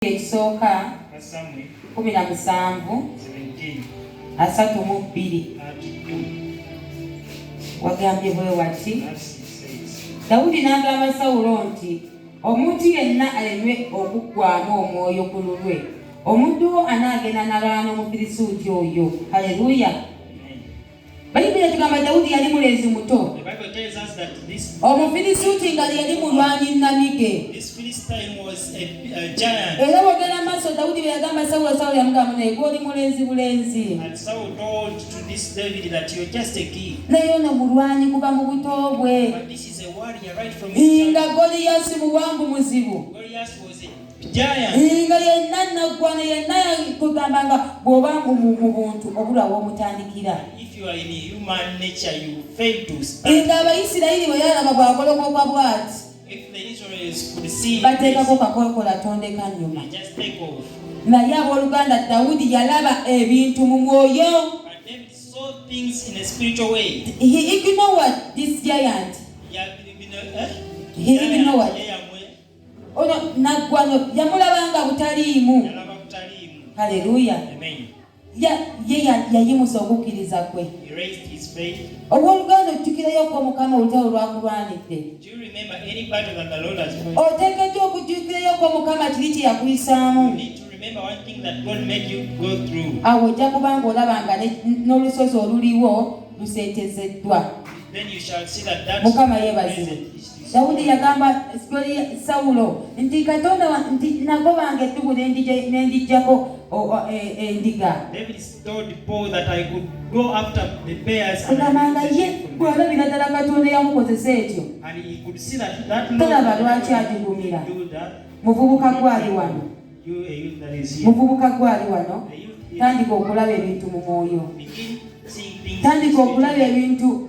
ekisooka kumi na musanvu asatu mu bbiri wagambye bwe wati dawudi n'agamba sawulo nti omuntu yenna aleme okuggwamu omwoyo ku lulwe omuddu wo anaagenda nalwana omufirisuuti oyo haleluya Bayibuli etugamba Dawudi yali mulenzi muto. Omufirisuuti nga yali mulwanyi nnamige. Era bw'ogenda mu maaso Dawudi bwe yagamba Sawulo, Sawulo yamugamba naye gwe oli mulenzi bulenzi. Naye ono mulwanyi kuva mu buto bwe. Nga Goliyaasi muwanvu muzibu. nga yenna naggwana yenna kugamba nga bw'oba mu buntu obulwa w'omutandikira nga abayisirayiri bwe yalaba bw'agolokoka bw'ati bateekako kakokola tondeka nnyuma naye abooluganda dawudi yalaba ebintu mu mwoyo he ignored this giant he ignored ono naggwano yamulabanga butaliimu haleluya ye yayimusa okukkiriza kwe ow'oluganda ojjukirayo ko mukama olutalo lwakulwanidde oteekeddwa okujjukirayo ko mukama kiri kye yakuyisaamu awo ojja kuba ng'olaba nga n'olusozi oluliwo luseetezeddwa mukama yeebazibwe Dawudi yagamba Sawulo nti Katonda nti nagobanga eddubu n'endigyako e, endiga. Agambanga ye bw'alabira ddala Katonda yamukozesa etyo. Tolaba lwaki agigumira. Muvubuka gwali wano. Muvubuka gwali wano. Tandika okulaba ebintu mu mwoyo. Tandika okulaba ebintu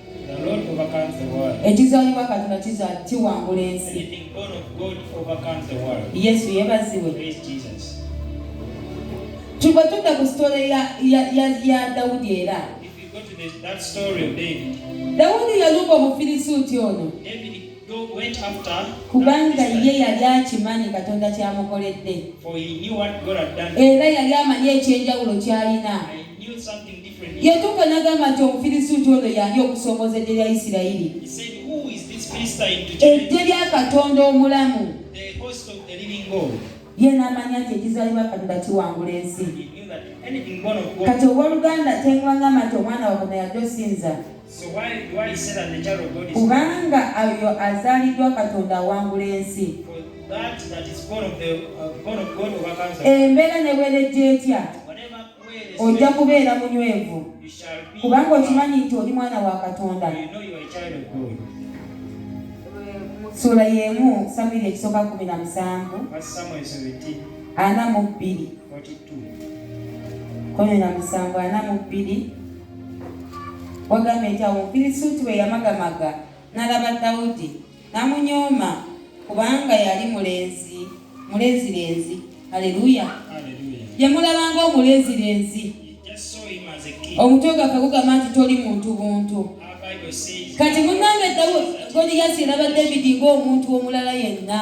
ekizaalibwa katonda kiwangula ensi yesu yebaziwe kyuba tudda ku sitole ya dawudi era dawudi yalumba omufirisuuti ono kubanga ye yali akimanyi katonda kyamukoledde era yali amanyi ekyenjawulo kyalina yatuuka n'agamba nti omufirisuuti ono yali okusoomoza eggye lya isirayiri eggye lya katonda omulamu ye n'amanya nti ekizaalibwa katonda kiwangula ensi kati ow'oluganda tengwangamba nti omwana wagona yadde osinza kubanga oyo azaaliddwa katonda awangula ensi uh, embeera ne bwerejja etya ojja kubeera munywevu kubanga okimanyi nti oli mwana wa katonda sula yemu samwiri ekisooka kumi na musanvu ana mu bbiri kumi na musanvu ana mu bbiri wagamba nti awo mufirisuuti bwe yamagamaga n'alaba dawudi namunyooma kubanga yali mulenzi mulenzirenzi aleluya yamulabanga omulenzirenzi omutwe gaffe gugamba nti toli muntu buntu kati munange goliyasi eraba david ng'omuntu omulala yenna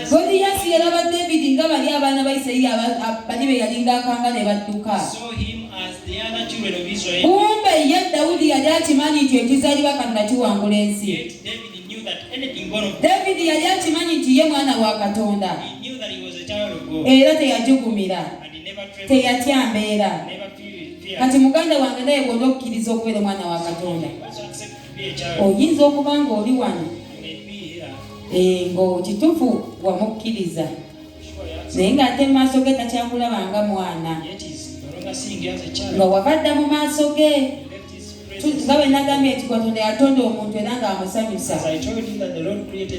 Goliyaasi yalaba David nga bali abaana ba Isirayiri bali be yalinga akanga ne badduka. Kumbe ye Dawudi yali akimanyi nti ekizaalibwa Katonda kiwangula ensi. David yali akimanyi nti ye mwana wa Katonda era teyajugumira, teyatya mbeera. Kati muganda wange naye bw'onokkiriza okubeera omwana wa Katonda, oyinza okuba ng'oli wano eh, ng'okitufu wamukkiriza naye ng'ate mu maaso ge takyakulaba nga mwana nga wabadda mu maaso ge nga bwe nagambye nti katonda yatonda omuntu era ng'amusanyusa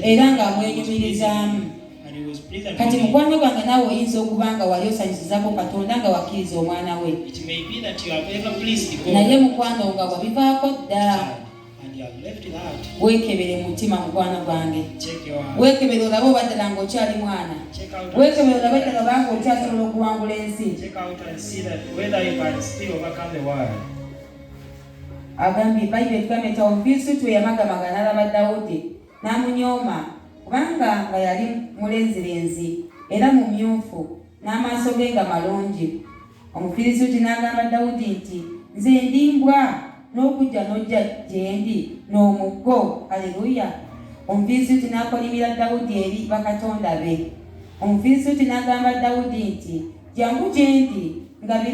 era ng'amwenyumirizaamu kati mukwano gwange naawe oyinza okuba nga wali osanyusizako katonda nga wakkiriza omwana we naye mukwano nga wabivaako dda weekebere mu mutima mukwano gwange weekebere olabe oba ddala nga okyali mwana weekebere olabe ddala oba nga okyasobola okuwangula ensi agambye bayibuli etugamba nti awo firistutu eyamagamaga n'alaba dawudi n'amunyooma kubanga nga yali mulenzirenzi era mumyufu n'amaaso ge nga malungi Omufirisuuti n'agamba Dawudi nti, Nze ndi mbwa n'okujja n'ojja gyendi n'omuggo? Aleruya! Omufirisuuti n'akolimira Dawudi eri bakatonda be. Omufirisuuti n'agamba Dawudi nti, Jangu gyendi, ngabire